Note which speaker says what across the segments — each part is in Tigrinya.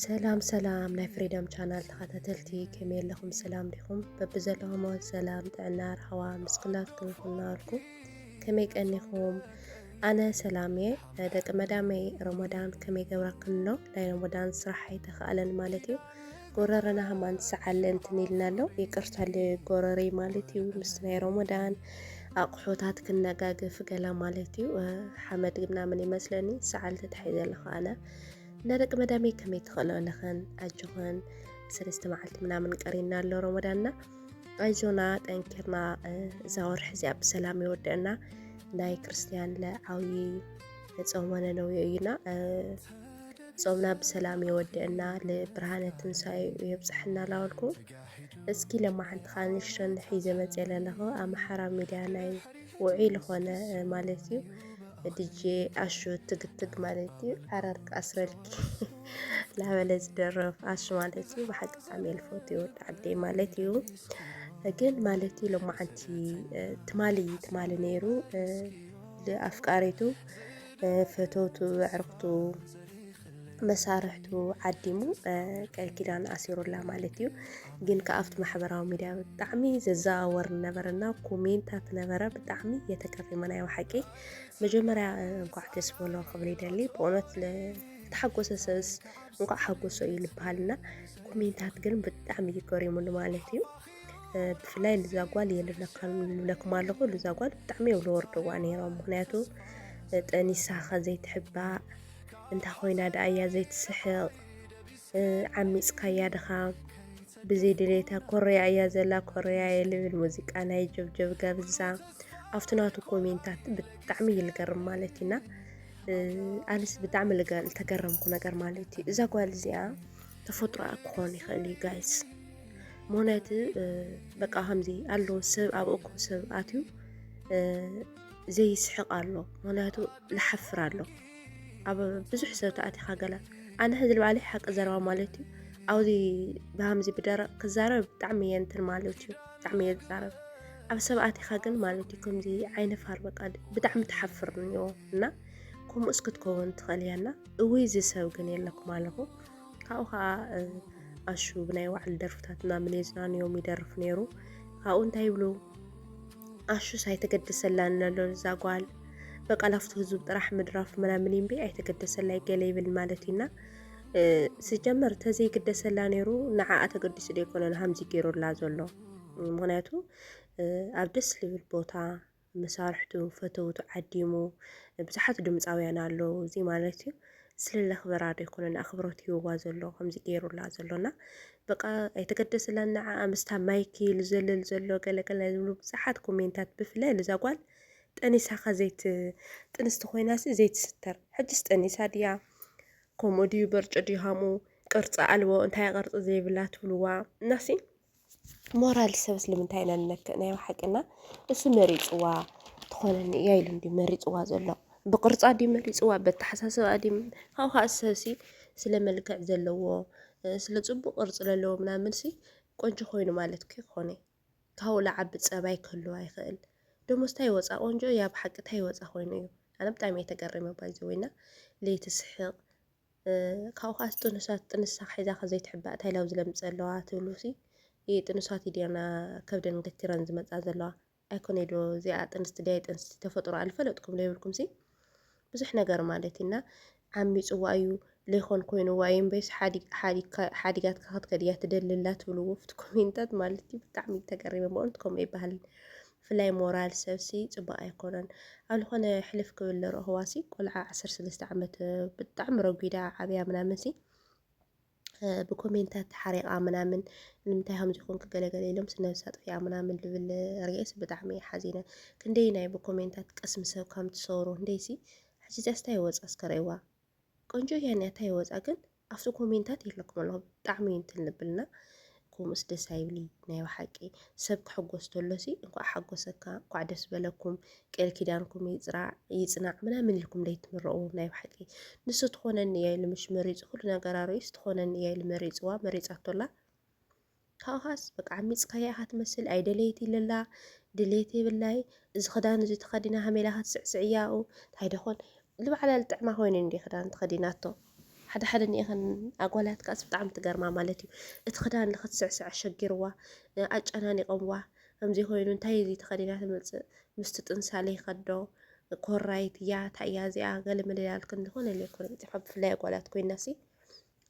Speaker 1: ሰላም ሰላም ናይ ፍሪደም ቻናል ተኸታተልቲ ከመይ ኣለኹም? ሰላም ዲኹም? በብዘለኹሞ ሰላም ጥዕና ርሃዋ ምስ ኩላትኩም ይኹን እናበልኩ ከመይ ቀኒኹም? ኣነ ሰላም እየ። ደቂ መዳመይ ሮሞዳን ከመይ ገብረክን ኣሎ? ናይ ሮሞዳን ስራሕ ኣይተኸኣለን ማለት እዩ። ጎረረና ሃማን ትሰዓለ እንትን ኢልና ኣሎ ይቅርታለ ጎረረይ ማለት እዩ ምስ ናይ ሮሞዳን ኣቑሑታት ክነጋገፍ ገላ ማለት እዩ ሓመድ ምናምን ይመስለኒ ሰዓል ተታሒ ዘለኹ ኣነ እና ደቂ መዳመይ ከመይ ትኽእሎ ኣለኸን ኣጆኸን ሰለስተ መዓልቲ ምናምን ቀሪና ኣሎ ሮሞዳንና ኣይዞና ጠንኪርና እዛ ወርሒ እዚኣ ብሰላም ይወድዕና ናይ ክርስትያን ለዓዊ ጾመ ነነውዮ እዩና ጾምና ብሰላም የወድእና ልብርሃነ ትንሳኤኡ የብጽሐና ላበልኩ እስኪ ለማሓንቲ ከዓ ንሽረን ሒዘ መፅየ ለለኹ ኣምሓራ ሚድያ ናይ ውዑይ ዝኾነ ማለት እዩ ድጄ ኣሹ ትግትግ ማለት እዩ ዓረርቂ ኣስረልኪ ላበለ ዝደረፍ ኣሹ ማለት እዩ ብሓቂ ብጣዕሚ የልፎት ይወድ ዓደ ማለት እዩ ግን ማለት እዩ ለማሓንቲ ትማሊ ትማሊ ነይሩ ኣፍቃሪቱ ፈተውቱ፣ ኣዕርኽቱ፣ መሳርሕቱ ዓዲሙ ቃል ኪዳን ኣሲሩላ ማለት እዩ። ግን ከዓ ኣብቲ ማሕበራዊ ሚዲያ ብጣዕሚ ዘዘዋወር ነበረና ኮሜንታት ነበረ ብጣዕሚ የተቀሪመና ዩ ሓቂ መጀመርያ እንኳዕ ደስ በሎ ክብል ይደሊ ብእውነት ተሓጎሰ ሰብስ እንኳዕ ሓጎሶ እዩ ዝበሃልና ኮሜንታት ግን ብጣዕሚ እዩ ገሪሙኒ ማለት እዩ። ብፍላይ ልዛ ጓል የልለካን ይብለኩም ኣለኹ ልዛ ጓል ብጣዕሚ እዮም ዝወርድዋ ነይሮም ምክንያቱ ጠኒሳኸ ዘይትሕባእ እንታይ ኮይና ደኣ እያ ዘይትስሕቕ ዓሚፅካያ ድኻ ብዘይ ድሌታ ኮረያ እያ ዘላ ኮረያ የልብል ሙዚቃ ናይ ጀብጀብ ገብዛ ኣብቲ ናቱ ኮሜንታት ብጣዕሚ እዩ ዝገርም ማለት እዩና ኣነስ ብጣዕሚ ዝተገረምኩ ነገር ማለት እዩ እዛ ጓል እዚኣ ተፈጥሮኣ ክኾን ይኽእል እዩ ጋይስ ምክንያቱ በቃ ከምዚ ኣሎ ሰብ ኣብ እኩ ሰብ ኣትዩ ዘይስሕቕ ኣሎ ምክንያቱ ልሓፍር ኣሎ ኣብ ብዙሕ ሰብ ተኣቲኻ ገለ ኣነ ሕዚ ልባዕለ ሓቂ ዘረባ ማለት እዩ ኣብዚ ብሃምዚ ብደረቕ ክዛረብ ብጣዕሚ እየ እንትን ማለት እዩ ብጣዕሚ እየ ዝዛረብ ኣብ ሰብ ኣቲኻ ግን ማለት እዩ ከምዚ ዓይነፋር በቃ ብጣዕሚ ትሓፍር እዮ እና ከምኡስ ክትከውን ትኽእል እያ እና እውይ እዚ ሰብ ግን የለኩም ኣለኹ ካብኡ ከዓ ኣሹ ብናይ ባዕሉ ደርፍታት ምናምን የዝናንዮም ይደርፍ ነይሩ ካብኡ እንታይ ይብሉ ኣሹስ ኣይተገደሰላን ኣሎ እዛ ጓል በቃ ላፍቶ ህዝብ ጥራሕ ምድራፍ ምናምን እምቢ ኣይተገደሰላይ ገለ ይብል ማለት እዩና ስጀመር ተዘይግደሰላ ነይሩ ንዓኣ ተገዲሱ ዶ ይኮነን ሃምዚ ገይሩላ ዘሎ ምክንያቱ ኣብ ደስ ልብል ቦታ መሳርሕቱ ፈተውቱ ዓዲሙ ብዙሓት ድምጻውያን ኣለዉ እዚ ማለት እዩ ስለ ለኽበራ ዶ ኣይኮነን ኣኽብሮት ሂብዋ ዘሎ ከምዚ ገይሩላ ዘሎ እና በቃ ኣይተገደስላን ንዓኣ ምስታ ማይኪ ዝዘልል ዘሎ ገለገለ ዝብሉ ብዙሓት ኮሜንታት ብፍላይ እዛ ጓል ጠኒሳኻ ዘይት ጥንስቲ ኮይናሲ ዘይትስተር ሕጅስ ጠኒሳ ድያ ከምኡ ድዩ በርጭ ድዩ ሃምኡ ቅርፂ ኣልቦ እንታይ ቅርፂ ዘይብላ ትብልዋ እናሲ ሞራል ሰብ ስለምንታይ ኢና ንነክእ ናይ ብሓቂ እና እሱ መሪጽዋ ትኾነኒ እያ ኢሉ እንዲ መሪጽዋ ዘሎ ብቅርጻ ድዩ መሪጽዋ በተሓሳስባ ድዩ ካብኡ ከዓ ሰብሲ ስለ መልክዕ ዘለዎ ስለ ጽቡቅ ቅርጺ ዘለዎ ምናምን ሲ ቆንጆ ኮይኑ ማለት ከይኮነ ካብኡ ልዓቢ ጸባይ ክህልዋ ይኽእል ደሞስ ታይ ወጻ ቆንጆ እያ ብሓቂ ታይ ወጻ ኮይኑ እዩ ኣነ ብጣዕሚ እየ ተገሪመ ባይዘወይ እና ለይቲ ስሕቅ ካብኡ'ኸኣስ ጥኑሳት ጥንሳ ሒዛ'ኸ ዘይትሕባእ ታይ ላብ ዝለምጽ ኣለዋ ትብሉ'ሲ እየ ጥኑሳት እዩ'ድዮና ከብደን ገቲረን ዝመጻ ዘለዋ ኣይኮነይ'ዶ እዚኣ ጥንስቲ ድያ ኣይጥንስቲ ተፈጥሮኣ ልፈለጥኩም ለይብልኩም'ሲ ብዙሕ ነገር ማለት እና ዓሚጽዋ እዩ ለይኮን ኮይኑዋ እዩ እምበይስ ሓዲጋትካ ክትከድ እያ ትደሊ ኣላ ትብሉ ወፍቲ ኮሜንታት ማለት እዩ ብጣዕሚ ተገሪመ በእውነት ከምኡ ኣይበሃልን ብፍላይ ሞራል ሰብሲ ጽቡቅ ኣይኮነን ኣብ ልኮነ ሕልፍ ክብል ዝረክዋሲ ቆልዓ ዓሰርተ ሰለስተ ዓመት ብጣዕሚ ረጒዳ ዓብያ ምናምንሲ ብኮሜንታት ተሓሪቃ ምናምን ንምንታይ ከምዚ ኮንክ ገለገለ ኢሎም ስነብሳ ጥፊኣ ምናምን ልብል ርኤስ ብጣዕሚ ሓዚነ ክንደይ ናይ ብኮሜንታት ቅስሚ ሰብ ከም ትሰሩ እንደይሲ ሕጂ ጃስታ ይወጻ እስከ ረእዋ ቆንጆ እያ እኒኣ ታይ ወፃ ግን ኣብቲ ኮሜንታት የለኩም ኣለኹ ብጣዕሚ እዩ እንትን ልብልና ከምኡስ ደስ ኣይብሊ ናይ ብሓቂ ሰብ ክሕጎስ ተሎ ሲ እንኳዕ ሓጎሰካ እንኳዕ ደስ በለኩም ቃል ኪዳንኩም ይፅናዕ ምናምን ኢልኩም ለይትምረኡ ናይ ብሓቂ ንሱ ትኾነኒ እያ ኢሉ ምሽ መሪፁ ኩሉ ነገር ኣርእዩስ ትኾነኒ እያ ኢሉ መሪፅዋ መሪፃቶላ ካብኻስ በቃ ዓሚጽካያ ኢኻ ትመስል ኣይደለየት ይለላ ድሌት የብላይ እዚ ክዳን እዚ ተኸዲና ሃሜላ ክትስዕስዕ እያ ኣብኡ እንታይ ደኾን ልባዕላ ልጥዕማ ኮይኑ እንዲ ክዳን ተኸዲናቶ ሓደ ሓደ ኒኤኸን ኣጓላት ካስ ብጣዕሚ ትገርማ ማለት እዩ እቲ ክዳን ንክትስዕስዕ ኣሸጊርዋ ኣጨናኒቆምዋ ከምዚ ኮይኑ እንታይ እዚ ተኸዲና ትመፅእ ምስቲ ጥንሳለ ይኸዶ ኮራይት እያ እንታይ እያ እዚኣ ገለ መለላልክን ዝኾነ ለይኮነ ይፅፋ ብፍላይ ኣጓላት ኮይና ሲ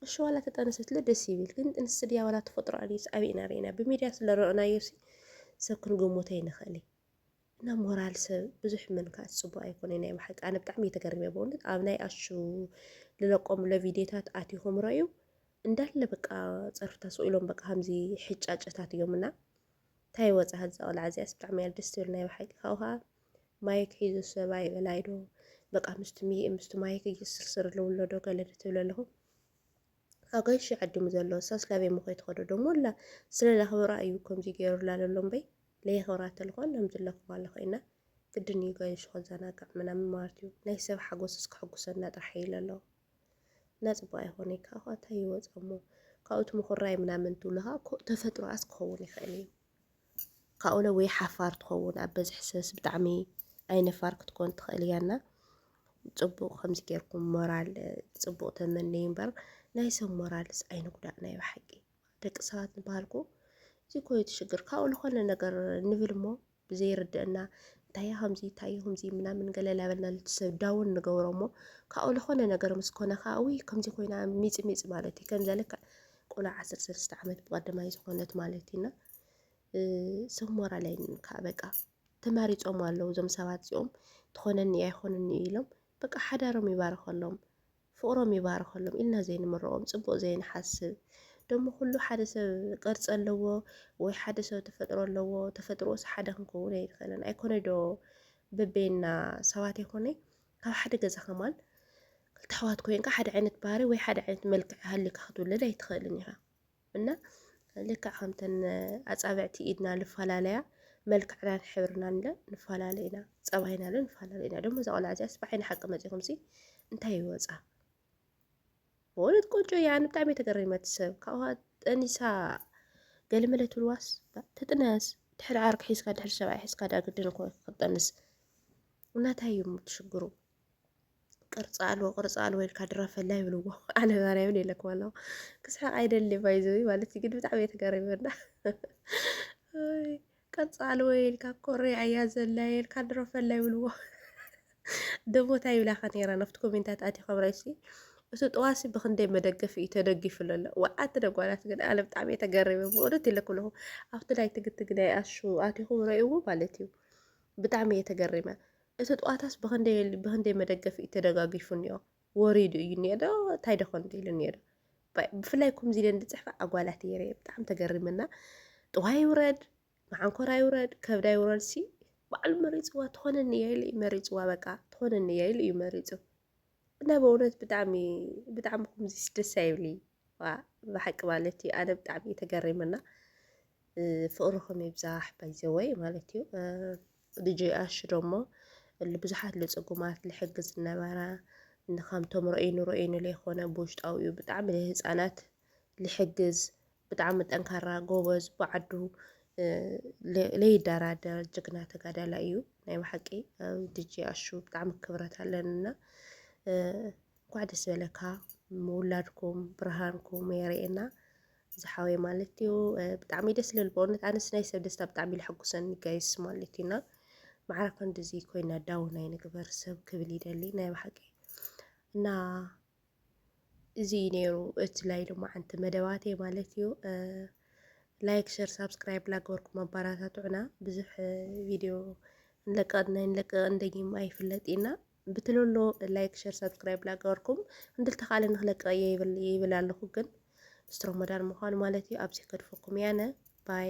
Speaker 1: እሺ ዋላ ተጠንሰትለ ደስ ይብል ግን ጥንሲ ድያ ዋላ ተፈጥሮ ኣንዩስ ኣበይ ኢና ርኢና ብሚድያ ስለ ረኦናዮሲ ሰብ ክንገሞቶ ይንኽእል እና ሞራል ሰብ ብዙሕ ምንካእ ጽቡቅ ኣይኮነ ናይ ብሓቂ ኣነ ብጣዕሚ እየተገርመ በእውነት ኣብ ናይ ኣሹ ልለቆም ለቪድዮታት ኣቲኹም ረዩ እንዳለ በቃ ጸርፍታ ሰው ኢሎም በቃ ከምዚ ሕጫጨታት እዮም እና እንታይ ወጻ ከዛ ቆልዓ እዚኣስ ብጣዕሚ እያ ደስ ትብል ናይ ብሓቂ ካብኡ ከዓ ማይክ ሒዙ ሰብኣይ በላይ ዶ በቃ ምስቲ ሚእ ምስቲ ማይክ እየስርስር ኣለውሎ ዶ ገለ ትብል ኣለኹ ኣገንሺ ዓዲሙ ዘሎ እሳስ ላበይ ምኾይ ትኸዶ ደሞ ኣላ ስለ ላኽብራ እዩ ከምዚ ገይሩላ ዘሎ እምበይ ለየኽብራ ተልኳን ናምዚ ለኽብራ ኣለኹ ኢና ግድን እዩ ገንሺ ከዘናጋዕ ምናምን ማለት እዩ ናይ ሰብ ሓጎስ እስከ ሕጉሰና ጥራሕ እዩ ለሎ እና ፅቡቅ ኣይኾነ ካብኳ እንታይ ይወፅ እሞ ካብኡ እቲ ምኹራይ ምናምን ትብልኻ ተፈጥሮኣስ ክኸውን ይኽእል እዩ ካኡለ ወይ ሓፋር ትኸውን ኣብ በዝሒ ሰብስ ብጣዕሚ ኣይነፋር ክትኮን ትኽእል እያ እና ጽቡቕ ከምዚ ጌርኩም ሞራል ጽቡቕ ተመነዩ እምበር ናይ ሰብ ሞራልስ ኣይንጉዳእ ናይ ብሓቂ ደቂ ሰባት ንበሃልኩ እዚ እኮ እዩ ትሽግር ካብኡ ዝኾነ ነገር ንብል እሞ ብዘይርድእና እንታይ ከምዚ እንታይ ከምዚ ምናምን ገለ ላበልና ልትሰብ ዳውን ንገብሮ እሞ ካብኡ ዝኾነ ነገር ምስ ኮነ ከዓ ውይ ከምዚ ኮይና ሚፅ ሚፅ ማለት እዩ ከምዚ ልክዕ ቆልዓ ዓሰርተ ሰለስተ ዓመት ብቀዳማይ ዝኾነት ማለት ኢና ሰብ ሞራል ኣይንን ከዓ በቃ ተማሪፆም ኣለዉ እዞም ሰባት እዚኦም ትኾነኒ ኣይኾነኒ ኢሎም በቃ ሓዳሮም ይባርኸሎም ፍቕሮም ይባርኸሎም ኢልና ዘይንምረቆም ፅቡቅ ዘይንሓስብ ደሞ ኩሉ ሓደ ሰብ ቅርፂ ኣለዎ ወይ ሓደ ሰብ ተፈጥሮ ኣለዎ ተፈጥሮስ ሓደ ክንከውን ኣይንኽእልን ኣይኮነ ዶ በበይና ሰባት ኣይኮነ ኣብ ሓደ ገዛ ከማን ክልተ ኣሕዋት ኮይንካ ሓደ ዓይነት ባህሪ ወይ ሓደ ዓይነት መልክዕ ሃልካ ክትውለድ ኣይትኽእልን ኢኻ እና ልክዕ ከምተን ኣፃብዕቲ ኢድና ልፈላለያ መልክዕናን ሕብርናን ለ ንፈላለ ኢና ፀባይና ለ ንፈላለ ኢና ደሞ እዛ ቆልዓ እዚኣስ ብዓይኒ ሓቂ መፂኹምሲ እንታይ ይወፃ በእውነት ቆንጆ እያ። ኣነ ብጣዕሚ ተገሪመት ሰብ ካብኡ ጠኒሳ ገለመለ ትብልዋስ ትጥነስ ድሕሪ ዓርኪ ሒዝካ ድሕሪ ሰብኣይ ሒዝካ ዳ ግድን እኮ ክትጠንስ እናታይ እዩ ትሽግሩ ቅርፂ ኣልቦ ቅርፂ ኣልቦ ኢልካ ድረፈላ ይብልዎ ኣነ ባርያ ምን የለኩም ኣለኹ ክስሕቅ ኣይደሊ ባይዘዊ ማለት እዩ ግን ብጣዕሚ እየ ተገሪመና ቀጻሊ ወይ ኢልካ ኮርያ እያ ዘላ የልካ ድሮ ፈላ ይብልዎ ደሞ እንታይ ይብላካ ነይራ ናብቲ ኮሜንታት ኣቲ ከምራይሲ እቲ ጠዋሲ ብክንደይ መደገፊ እዩ ተደጊፉ ለሎ ወዓቲ ደጓላት ግን ኣነ ብጣዕሚ እየ ተገሪበ ብእውነት ይለኩለኹ ኣብቲ ናይ ትግትግ ናይ ኣሹ ኣቲኹም ረእዎ ማለት እዩ ብጣዕሚ እየ ተገሪመ እቲ ጠዋታስ ብክንደይ መደገፊ እዩ ተደጋጊፉ እኒኦ ወሪዱ እዩ እኒኦ ዶ እንታይ ዶ ኮን ኢሉ እኒኦ ዶ ብፍላይ ከምዚ ኢለን ዝፅሕፋ ኣጓላት እየ ርየ ብጣዕሚ ተገሪመና ጥዋይ ይውረድ መዓንኮራ ይውረድ ከብዳ ይውረድ ሲ ባዕሉ መሪፅዋ ትኾነኒ እያ ኢሉ እዩ መሪፅዋ በቃ ትኾነኒ እያ ኢሉ እዩ መሪፁ እና በእውነት ብጣዕሚ ብጣዕሚ ከምዚ ደስ ኣይብሊ ብሓቂ ማለት እዩ ኣነ ብጣዕሚ ተገሪመና ፍቅርኹም ይብዛሕ ባይዘወይ ማለት እዩ ዲጀይ ኣሹ ደሞ እሊ ብዙሓት ልጽጉማት ልሕግዝ ዝነበራ ንካምቶም ረእይኑ ረእይኑ ለይኮነ ብውሽጣዊ እዩ ብጣዕሚ ልህፃናት ልሕግዝ ብጣዕሚ ጠንካራ ጎበዝ ብዓዱ ለይደራደር ጅግና ተጋዳላይ እዩ ናይ ብሓቂ ዲጀይ ኣሹ ብጣዕሚ ክብረት ኣለንና እንኳዕ ደስ በለካ ምውላድኩም ብርሃንኩም የርእየና ዝሓወይ ማለት እዩ ብጣዕሚ ደስ ልብል በእውነት ኣነስ ናይ ሰብ ደስታ ብጣዕሚ ልሐጉሰኒ ጋይስ ማለት እዩ እና ማዕራ ክንድዚ ኮይና ዳውን ኣይንግበር ሰብ ክብል ይደሊ ናይ ባሓቂ እና እዚ እዩ ነይሩ እቲ ላይ ሎማዓንቲ መደባቴ ማለት እዩ። ላይክ ሸር ሳብስክራይብ ላገበርኩም ኣባራታትዑና ብዙሕ ቪድዮ ንለቀቅና ንለቀቅ እንደጊም ኣይፍለጥ ኢና ብትልሎ ላይክ ሸር ሳብስክራይብ ላገበርኩም እንድልተኻለ ንክለቅቕ እየ ይብል ኣለኹ ግን ምስቲ ሮሞዳን ምዃኑ ማለት እዩ ኣብዚ ከድፈኩም ያነ ባይ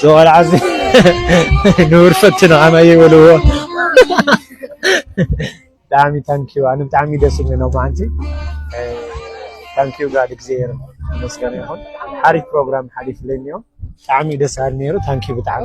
Speaker 2: ዝቆልዓ እዚ ንቡር ፈትኖ ከማይ ይበልዎ ብጣዕሚ ታንኪዩ ኣነ ብጣዕሚ ደስ ኢሉ ነው ማዓንቲ ታንኪዩ ጋድ እግዚኣብሔር ይመስገን ይኹን ሓሪፍ ፕሮግራም ሓሊፍለይ እኒኦ ብጣዕሚ ደስ በሃሊ ነይሩ ታንኪዩ ብጣዕሚ